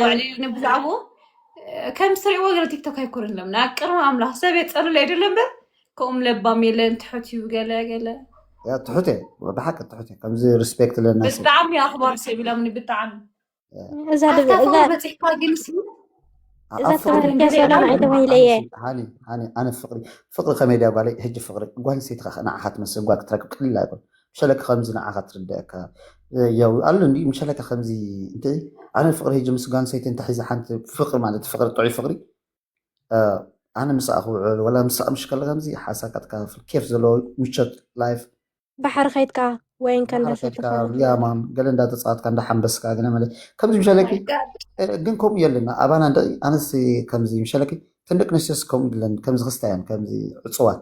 ዋዕሊሉ ብዛዕባኡ ከም ትሪእዎ ገለ ቲክቶክ ኣይኮነን ሎም ናብ ቅርቢ ኣምላኽ ሰብ የፀልለ ኣይደለ እምበር ከምኡም ለባም የለን ትሑት እዩ ገለ ገለ ያ ትሑት እየ ብሓቂ ትሑት እየ ከምዚ ሪስፔክት ለና ሰብ ብጣዕሚ ኣኽባር ሰብ ኢሎምኒ ብጣዕሚ እዛ ኣታ ድብ- እዛ ፍቕሪ በፂሕካ ግን ሲ ኣብ እዛ ፍቕሪ ተባህልኪ እያ ሰላም ኣነ ኣይተባሂለ እየ ኣነሲ ሃኒ ሃኒ ኣነ ፍቕሪ ፍቕሪ ከመይ ድያ ጓለይ ሕጂ ፍቕሪ ጓል ኣንስተይቲ ከ ንዓኻ ትመስል ጓል ክትረክብ ቀሊል ኣይኮን ምሸለካ ከምዚ ንዓኻ ትርደኣካ ያው ኣሎ እንዲ ምሸለካ ከምዚ እንተ ኣነ ፍቅሪ ሂጂ ምስ ጓል ሰይቲ እንተ ሒዛ ሓንቲ ፍቅሪ ማለት ፍቅሪ ጥዑይ ፍቅሪ ኣነ ምስኣ ክውዕል ወላ ምስኣ ምሽ ከለ ከምዚ ሓሳካ ትካፍል ኬፍ ዘለዎ ምቾት ላይፍ ባሕሪ ከይትካ ወይን ከንዳሰትካ ያማን ገለ እንዳተፃወትካ እንዳሓንበስካ ገለ ማለት ከምዚ ምሸለኪ ግን ከምኡ የለና ኣባና ደቂ ኣነስ ከምዚ ምሸለኪ ተን ደቂ ኣንስትዮስ ከምኡ ድለን ከምዚ ክስታያን ከምዚ ዕፅዋት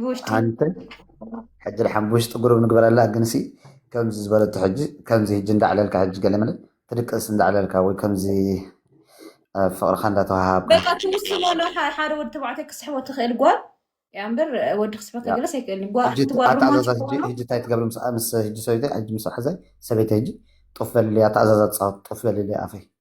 ብውሽጢ ሓንቲ ሕጂ ድሓን ብውሽጢ ጉሩብ ንግበረላ ግንሲ ከምዚ ዝበለቶ ሕጂ ከምዚ ሕጂ እንዳዕለልካ ሕጂ ገለመለ ትድቅስ እንዳዕለልካ ወይ ከምዚ ፍቅርካ እንዳተዋሃሃብካ በቃ ትውስኖ ዶ ሓደ ወዲ ተባዕታይ ክስሕቦ ትኽእል ጓል ያ እምበር ወዲ ክስሕቦ ከገለስ ኣይክእልን ጓል ሕጂ እቲ ጓል ኣተኣዛዛ ሮማንቲክ ሕጂ ኾይኑ ሕጂ እንታይ ትገብሪ ምስ ምስ ሕጂ ሰበይተይ ሕጂ ምስ ሓዘይ ሰበይተይ ሕጂ ጡፍ በልልያ ኣተኣዛዛ ትጻወት ጡፍ በልልያ ኣፈይ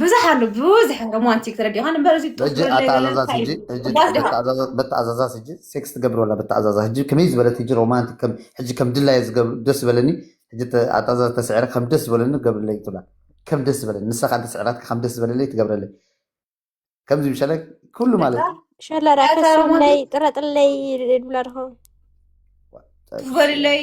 ብዙሕ ኣሎ ብዙሕ ሮማንቲክ ተረዲኻ እምበር እዚ ጡፍ ሕጂ ዝበለ የለን ኣተኣዛዛስ እንታይ ሕጂ እዩ ሕጂ እዋስ ድሃ በተኣዛዛ- በተኣዛዛስ ሕጂ ሴክስ ትገብር ወላ በተኣዛዛ ሕጂ ከመይ ዝበለት ሕጂ ሮማንቲክ ከም ሕጂ ከም ድላየ ዝገብር ደስ ዝበለኒ ሕጂ ተ- ኣተኣዛዛ ተስዕረ ከም ደስ ዝበለኒ ገብርለይ ትብላ ከም ደስ ዝበለኒ ንሳ ካን ተስዕራትካ ከም ደስ ዝበለለይ ትገብረለይ ከምዚ ምሸለ ኩሉ ማለት እዩ ሸለራ ኣታ ከሰምለይ ሮማንቲክ ጥረጥለይ ይብላ ድኸውን ጡፍ በልለይ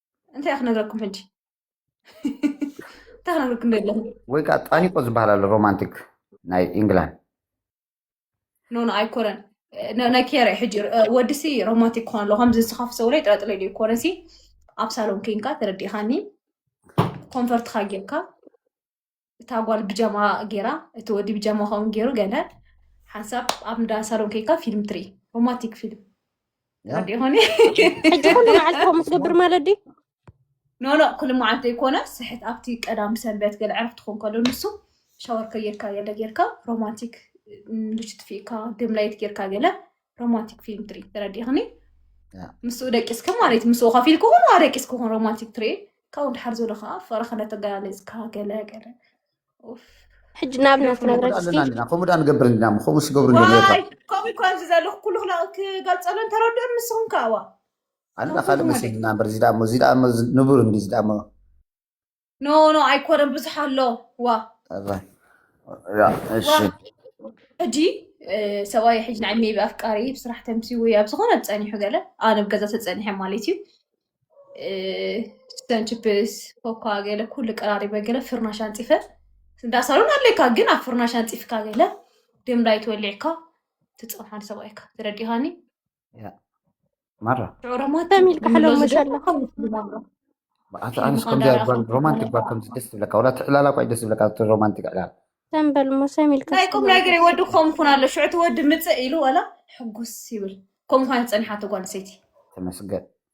እንታይ ክነግረኩም ሕጂ እንታይ ክነግረኩም ዶ ኣለኹ ወይ ከዓ ጣኒቆ ዝበሃል ኣሎ ሮማንቲክ ናይ ኢንግላንድ ኖ ኖ ኣይኮነን ነ- ናይ ኬረ ሕጂ እ፣ ወድሲ ሮማንቲክ ክኾን ኣሎ ከምዚ ንስኻ ፍሰውረይ ጥረጥረ ኢሉ ይኮነሲ ኣብ ሳሎን ኮንካ ተረዲእኻኒ ኮንፈርትካ ጌርካ እታ ጓል ብጃማ ጌራ እቲ ወዲ ብጃማ ከምኡ ጌሩ ገለ ሓንሳብ ኣብ እንዳ ሳሎን ከይካ ፊልም ትርኢ ሮማንቲክ ፊልም ዲ ኾኒ ሕጂ ኩሉ መዓልቲ ከምኡ ትገብር ማለት ድዩ ኖኖ ኩሉ መዓልቲ ዘይኮነ ስሕት ኣብቲ ቀዳም ሰንበት ገለ ዕረፍቲ ክኾን ከሎ ንሱ ሻወር ከየካ ገለ ጌርካ ሮማንቲክ ልጅ ትፍኢካ ድም ላይት ጌርካ ገለ ሮማንቲክ ፊልም ትሪ ተረዲእኽኒ ምስኡ ደቂስካ ማለት እዩ ምስኡ ከፊል ክኹን ዋ ደቂስ ክኹን ሮማንቲክ ትሪ ካብኡ ድሓር ዘሎ ከዓ ፈረኸ ነተገላለፅካ ገለ ገለ ኡፍ ሕጂ ናብ ናት ነብረት ኣለና እስቲ እንዲና ከምኡ ድኣ ንገብር እንዲና እሞ ከምኡ ስገብሩ እንዲና ነታ ዋይ ከምኡ እኮ ኣብዚ ዘለኹ ኩሉ ክላ- ክገልፀሉ እንተረድኡን ንስኹም ከዓ ዋ ኣላ ካልእ መሲልና እምበር እዚ ድኣ እሞ እዚ ድኣ እሞ እዚ ንቡር እንዲ እዚ ድኣ እሞ ኖ ኖ ኣይኮነን ብዙሕ ኣሎ ዋ ኣዛ ያ እሺ ዋ ሕጂ እ፣ ሰብኣይ ሕጂ ንዓይ ሜቢ ኣፍቃሪ ብስራሕ ተምሲ ወይ ኣብ ዝኾነ ጸኒሑ ገለ ኣነ ኣብ ገዛ ተጸኒሐ ማለት እዩ እ፣ ስተን ችፕስ ኮኳ ገለ ኩሉ ቀራሪበ ገለ ፍርናሽ ኣንጺፈ እንዳ ሳሎን ኣለካ ግን ኣብ ፍርናሽ ኣንጺፍካ ገለ ድም ላይት ወሊዕካ ትጸንሓን ሰብኣይካ ተረዲኻኒ ማራ ሮማንቲክ ኣነስ ከምዚ ሮማንቲክ ባር ከምዚ ደስ ዝብለካ ዋላ ትዕላላ ኳ ደስ ዝብለካ ሮማንቲክ ዕላል ተንበል ሞሰም ኢልካ ናይ ቁም ነገር ወዲ ከም ኩን ኣሎ ሽዑ እቲ ወዲ ምፅእ ኢሉ ዋላ ሕጉስ ይብል ከም ኳን ዝፀንሓቶ ጓል ኣንስተይቲ ተመስገን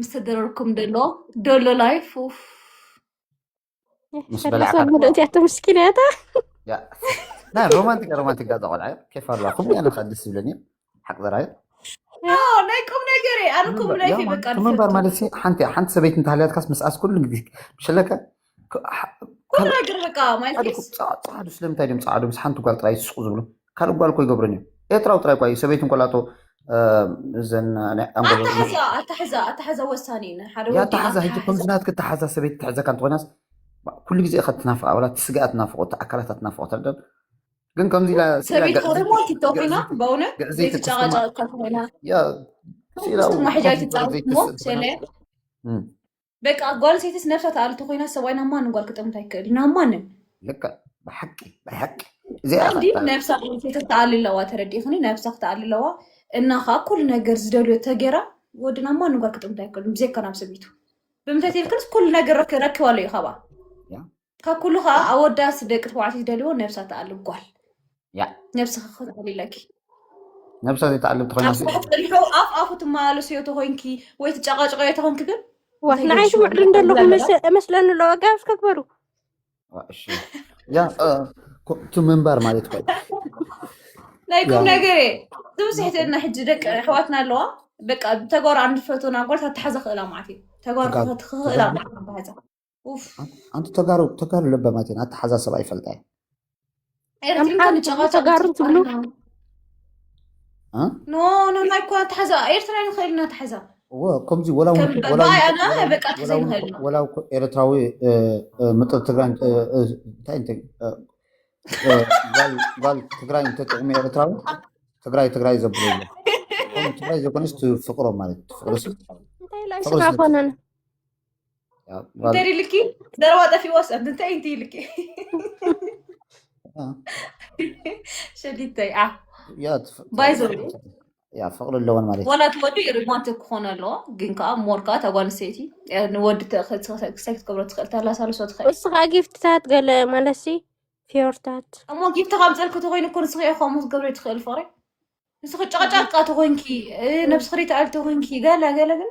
ምስተደረርኩም ደሎ ደሎ ላይፍ ምስ በላዕካ ሰላሳ ብሎ እቲኣቶ ምስኪን እያታ ያ ናይ ሮማንቲክ ሮማንቲክ ዳዛ ቆልዓ እዩ ኬፍ ኣለዋ ከምኡ ያነ ከዓ ደስ ይብለኒ እዩ ሓቂ ዘራዩ ናይ ቁም ነገር እየ ኣነ ቁም ምንባር ላይፍ ያ እዩ ማለት በቃ ክምንባር ዝፈቱ ማለት ሲ ሓንቲ ሓንቲ ሰበይቲ እንተሃልያትካስ ምስኣስ ኩሉ ግዜ ምሸለከ ፃዓዱ ስለምንታይ ድም ፀዓዱ ምስ ሓንቲ ጓል ጥራይ ዝስቁ ዝብሉ ካልእ ጓል ኮ ይገብርን እዩ ኤርትራዊ ጥራይ ኳ እዩ ሰበይቱ እንኮላቶ እዘን ኣታሓዛ ወሳኒ ኣታሓዛ ሕጂ ከምዚ ናትክ ኣታሓዛ ሰበይቲ ትሕዘካ እንተኮይናስ ኩሉ ግዜ ኢካ ትናፍቃ ዋላ ትስጋኣ ትናፍቆ ኣካላታ ትናፍቆ ትረዳን ግን ከምዚ ኢላ ሰበይቲ ኮረሞ ቲቶ ኮይና በእውነት ዘይትጨቃጨቅ ኮይና ስኢላ በቃ ጓል ሴትስ ነብሳ ተኣልቶ ኮይና ሰብኣይ ናብ ማንም ጓል ክጠምት ኣይክእል ናብ ማንም ልክዕ ብሓቂ ናይ ሓቂ እዚኣ እንዲ በቃ ነብሳ ጓል ሴት ተኣሊ ኣለዋ ተረዲእኽኒ ነብሳ ክትኣሊ ኣለዋ እና ከዓ ኩሉ ነገር ዝደልዮ ተጌራ ወዲ ናብ ማንም ጓል ክጠምት ኣይክእልን ብዘይካ ናብ ሰበይቱ ብምንታይ ተይልክንስ ኩሉ ነገር ረክ- ረኪባሉ እዩ ካባ ያ ካብ ኩሉ ከዓ ኣወዳት ደቂ ተባዕትዮ ዝደልዎ ነብሳ ትኣልብ ጓል ያ ነብስኺ ክትኣልለኪ ነብሳ ዘይተኣልብ ካብ ተኾይና ስራሕ ፀኒሑ ኣፍ ኣፉ ትመላለስዮ ተኮይንኪ ወይ ትጨቃጨቀዮ ተኮንኪ ግን ዋ እንታይ ንዓይ ገዲሽዎ ስምዕሉ ንዓይ እንደለኹ ዝለመዳ መስ- እመስለኒ ኣሎ ጋብ እስከ ግበሩ እሺ ያ እ፣ ኮ- እቲ ምንባር ማለት እኮ እዩ። ናይ ቁም ያ ነገር እየ እዚ ውስሕትና ሕጂ ደቂ ኣሕዋትና ኣለዋ በቃ ተጓሩ ኣንፈቱና ጓል ታተሓዘ ክእላ ማለት እዩ ተጓሩ ተጋሩ ክኽእላ ተጋሩ ማለት እዩ ታተሓዘ ኣንቲ ተጋሩ ተጋሩ ለበማት እየን ኣተሓሳሰባ ይፈልጣ እየን ኣምሓሩ ትብሉ ተጋሩ ትብሉ ኖ ኖ ናይ እኮ ኣተሓዛ ኤርትራ ንኽእል ኢና ኣተሓዛ ከምዚ ወላ ኤርትራዊ ምጥር ትግራይ እንታይ እንታይ ጓል ትግራይ እንተጥቕሚ ኤርትራዊ ትግራይ ትግራይ ዘብሎ ትግራይ ዘኮነስ ትፍቅሮ ማለት ትፍቅሮ ስፍቅሮ እንተዲ ልኪ ዘረባ ጠፊዎስ እንታይ እንቲ ልኪ ሸዲተይ ዓ ባይ ዘሩ ፍቅሪ ኣለዎን ማለት ዋላ እቲ ወዲ ሪማንት ክኾነ ኣለዎ ግን ከዓ ሞር ከዓ ተጓል ሰይቲ ንወዲ ክሳይ ክትገብሮ ትኽእል ተላሳልሶ ትኽእል እስኻ ጊፍትታት ገለ ማለሲ ፊዮርታት እሞ ጊፍቲ ካብ ፀልክ ተኮይኑ እኮ ንስኺ ከምኡ ክትገብሪ ትኽእል ፍቅሪ ንስኺ ጨቅጫቃ ተኮይንኪ ነብስኽሪ ተኣል ተኮይንኪ ገለ ገለ ግን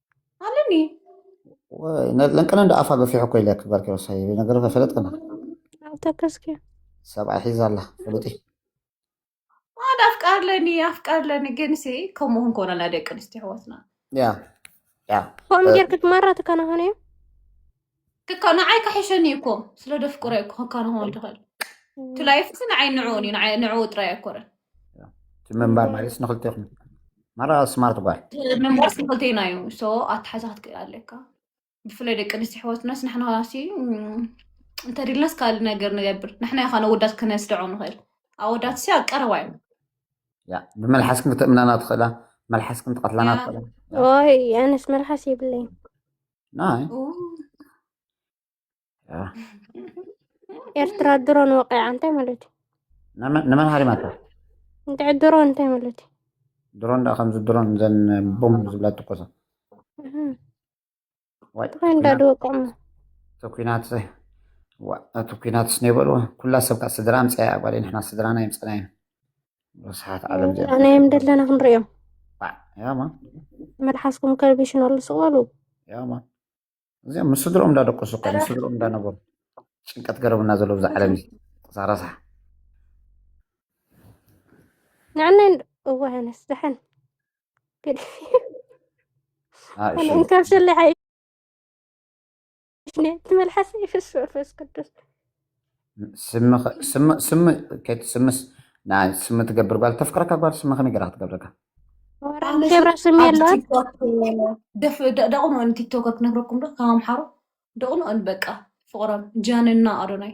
ኣለኒ ለንቅነ እንደ ኣፋ ገፊሑ እኮ ኢለክ ጋር ኪሮሳይ ነገር ፈለጥ ቅነ ተከስኪ ሰብኣይ ሒዛ ኣላ ፍሉጢ ማን ኣፍቃር ለኒ ኣፍቃር ለኒ ግን ሲ ከምኡ ክንኮነ ናይ ደቂ ኣንስትዮ ኣሕዋትና ያ ያ ከምኡ ጌርክ መራ ትከናኸነ እዩ ክካ ንዓይ ካሒሸኒ እዩ እኮ ስለ ደፍቅሮ እዩ እኮ ክካ ንኸውን ትኽእል እቲ ላይፍሲ ንዓይ ንዕኡን እዩ ንዓይ- ንዕኡ ጥራይ ኣይኮረን እቲ ምንባር ማለትስ ንክልቴኹም ማራ ስማርት ጓል ምንባርስ ንክልቴና እዩ ሶ ኣተሓዛ ክትክእል ኣለካ ብፍላይ ደቂ ኣንስትዮ ኣሕዋትናስ ንሕና ሲ እም፣ እንተድልናስ ካልእ ነገር ንገብር ንሕና ኢኻ ነወዳት ክነስድዖ ንኽእል ኣወዳት ሲ ኣብ ቀረባ እዩ ያ ብመልሓስክን ክትእምናና ትኽእላ መልሓስክን ትቐትላና ትኽእላ ወይ ኣነስ መልሓስ የብለይን ናይ ኤርትራ ድሮን ወቂዓ እንታይ ማለት እዩ ንመን ሃሪማታ እንድዒ ድሮን እንታይ ማለት እዩ ድሮን ዳ ከምዚ ድሮን ዘን ቦም ዝብላ ትኮሰ ወይ እንዳ ድወቅዑ እቲ ኩናት እቲ ኩናትስ ነይበልዎ ኩላ ሰብካ ስድራ ኣምፀያ ጓል ንሕና ስድራና የምፀና ኢና ረስሓት ዓለም ዚኣ ኣናዮም ደለና ክንሪኦም ባዕ ያማ መልሓስኩም ከርቢሽን ኣሉ ስቕበሉ ያማ እዚኦም ምስ ስድሮኦም እንዳደቀሱ እኳ ምስ ስድሮኦም እንዳነበሩ ጭንቀት ገረብና ዘሎ ብዛ ዓለም እዚ እዛ ረስሓ ንዕና እወ ኣነስ ደሓን ግን ኣነ እንካብ ሰለሓይ ነ ትመልሓሰ ይፍስ መንፈስ ቅዱስ ስሚ ኸ- ስሚ ስሚ ከቲ ስምስ ንኣ ስሚ ትገብር ጓል ተፍቅረካ ጓል ስሚ ከመይ ገራ ክትገብረካ ገብረ ስም የለዋን ቲክቶክ ደፍ ደቕኑ ኦን ቲክቶከር ክነግረኩም ዶ ካብ ኣምሓሩ ደቕኑ ኦን በቃ ፍቕሮም ጃንና ኣዶናይ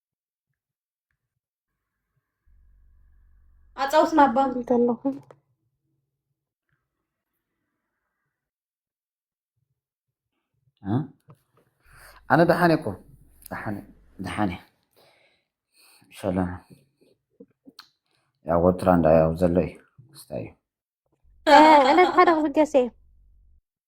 ኣጻውትና ኣባ እንተለኹ ኣነ ደሓን እኮ ደሓን ደሓን እየ ሰላም ያው ወትራ እንዳያው ዘሎ እዩ ክስታይ እዩ ዕለት ሓደ ክብገስ እየ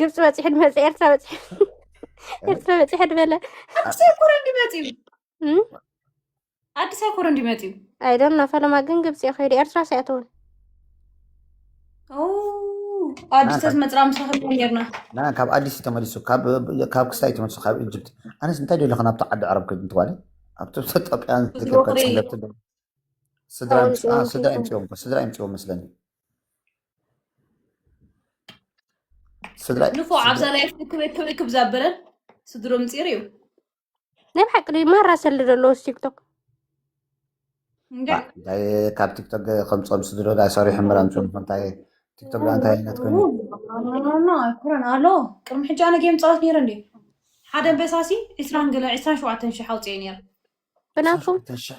ግብፂ በፂሑ ድመፀ ኤርትራ በፂሑ ኤርትራ በፂሑ ድበለ ኣዲስ ኣይኮረ እንዲመፅዩ ኣዲስ ኣይኮረ እንዲመፅዩ ኣይዶን ኖ ፈለማ ግን ግብፂ እዩ ከይዱ ኤርትራ ሲያትውን ኣዲስ ተዝመፅራ ምስ ረኸብና ነርና ና ካብ ኣዲስ እዩ ተመሊሱ ካብ ካብ ክሳይ እዩ ተመሊሱ ካብ ኢጅፕት ኣነስ እንታይ ደሎ ከ ናብቲ ዓዲ ዓረብ ከይድ እንትባለ ኣብቲ ኢትዮጵያን ዝገብካ ወቕሪ። ፀለብቲ ዶ- ስድራ ይምፅ- አ፣ ስድራ ይምፅዎም እኮ፣ ስድራ ይምፅዎም መስለኒ ስድራይ ንፎ ዓብዛ ስድራይ ላይ ክበይ ክበይ ክብ ዛበለን ስድሮ ምፂር እዩ ናይ ብሓቂ ድዩ ማራ ሰሊ ዘለዎ ቲክቶክ እንጋ ባ እንታይ ካብ ቲክቶክ ከምፆም ስድሮ ዳይ ሰሪሑ ምራምፅም እንታይ ቲክቶክ ዳ እንታይ ዓይነት ኮይኑ ኖኖኖኖ ኣይኮነን ኣሎ ቅድሚ ሕጂ ኣነ ጌም ፃወት ነይረ እንዲ ሓደ በሳሲ ዕስራን ገለ ዕስራን ሸውዓተን ሽሕ ኣውፅኤ ነይረ ብናቱ ሸውዓተ ሽሕ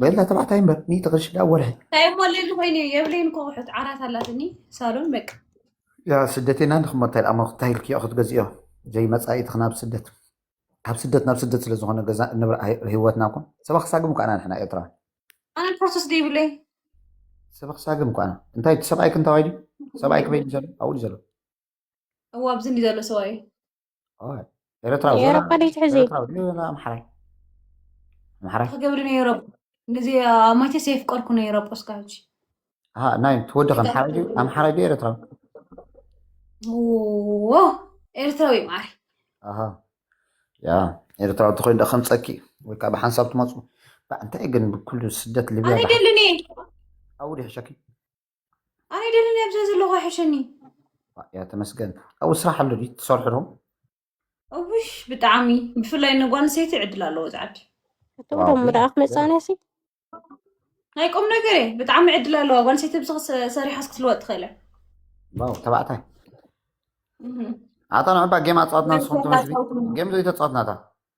በላ ተባዕታይ እምበር ሚእቲ ቅርሺ ዳ ወርሒ እንታይ እሞ ሌሊ ኮይኑ እዩ የብለይን እኮ ኣቑሑት ዓራት ኣላትኒ ሳሎን በቃ ያ ስደቴና ንክሞ እንታይ ዳሞ ክታይልክዮ ክትገዝእዮ ዘይመፃኢቲ ክናብ ስደት ካብ ስደት ናብ ስደት ስለዝኾነ ገዛ ንብራ ህይወትና እኮ ሰባ ክሳግም እኳ ኢና ንሕና ኤርትራ ኣነ ፕሮሰስ ደይብለይ ሰባ ክሳግም እኳ ኢና እንታይ ሰብኣይ ክንታዋይ ድዩ ሰብኣይ ክበይ ዘሎ ኣብኡ ዘሎ እዋ ኣብዚ እንዲ ዘሎ ሰብኣይ ኤረትራዊ የረባ ደይ ትሕዚ ኤረትራዊ ድዩ ወላ ኣምሓራይ ኣምሓራይ ክገብሪ ነይሮ ንዚ ኣማይተ ዘየፍቀርኩ ነይሮ ጶስካ ሕጂ ኣሃ ናይ ትወዲ ኣምሓራይ ድዩ ኣምሓራይ ድዩ ኤረትራዊ ዎ ኤርትራዊ እዩ ማዓሪ ኣሃ ያ ኤረትራዊ እንተኮይኑ ዶ ከምፀኪ ወይ ከዓ ብሓንሳብ ትመፁ እንታይ ግን ብኩሉ ስደት ሊብያ ኣነ ደልኒ ኣውዲ ሕሸኪ ኣነ ደለኒ ኣብዛ ዘለኹ ኣይሕሸኒ ያ ተመስገን ኣብኡ ስራሕ ኣሎ ድዩ ትሰርሑ ዶ እውሽ ብጣዕሚ ብፍላይ ንጓል ኣንስተይቲ ዕድል ኣለዎ ዝዓዲ እቶም ዋው ደሞ ደኣ ክመጻና ሲ ናይ ቁም ነገር እየ ብጣዕሚ ዕድል ኣለዋ ጓል ኣንስተይቲ ብዚ ሰሪሓስ ክትልወጥ ትኽእል እያ ዋው ተባዕታይ እህ። ኣታ ንዕባ ጌም ኣፃወትና ንስኹም ተመስቢ ጌም ዘይተፃወትናታ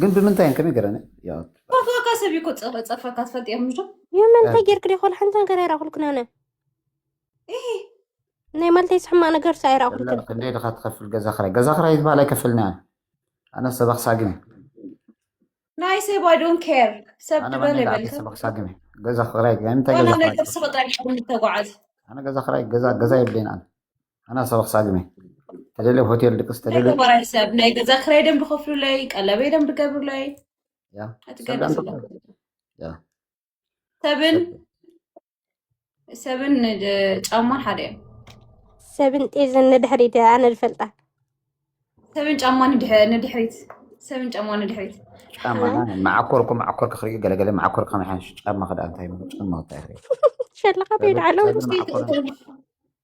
ግን ብምንታይ እን ከመይ ገረኒ ጸፋካ ሰብ እኮ ጸፋካ ትፈልጥ እዮም ምዶ የመን እንታይ ጌርክ ደ ኮል ሓንቲ ነገር ኣይራኹልክን ኣነ ናይ ማልተይ ዝሕማቅ ነገር ሳ ኣይራኹልክን ክንደይ ድካ ትኸፍል ገዛ ክራይ ገዛ ክራይ ዝበሃል ኣይከፍልና ኣነ ሰበኽ ሳግም ናይ ሰብ ኣይ ዶንት ኬር ሰብ ድበለ በልከ ሰበኽ ሳግም ገዛ ክራይ እንታይ ገዛ ክራይ ተጓዓዝ ኣነ ገዛ ክራይ ገዛ ገዛ የብለይን ኣነ ኣና ሰባ ክሳብ ዩመይ ተደለ ሆቴል ድቅስ ተደለ ተባራይ ሰብ ናይ ገዛ ክራይ ደም ብከፍሉለይ ቀለበይ ደም ብገብሩለይ ኣትገደስ ሰብን ሰብን ጫማ ሓደ እዮም ሰብን ጤዝን ንድሕሪት ኣነ ዝፈልጣ ሰብን ጫማ ንድሕሪት ሰብን ጫማ ንድሕሪት ጫማ መዓኮርኩ መዓኮር ክኽርኢ ገለገለ መዓኮር ከመሓንሽ ጫማ ክዳ እንታይ ጫማ ወታ ይኽእል ሸለኻ ቤድ ዓለው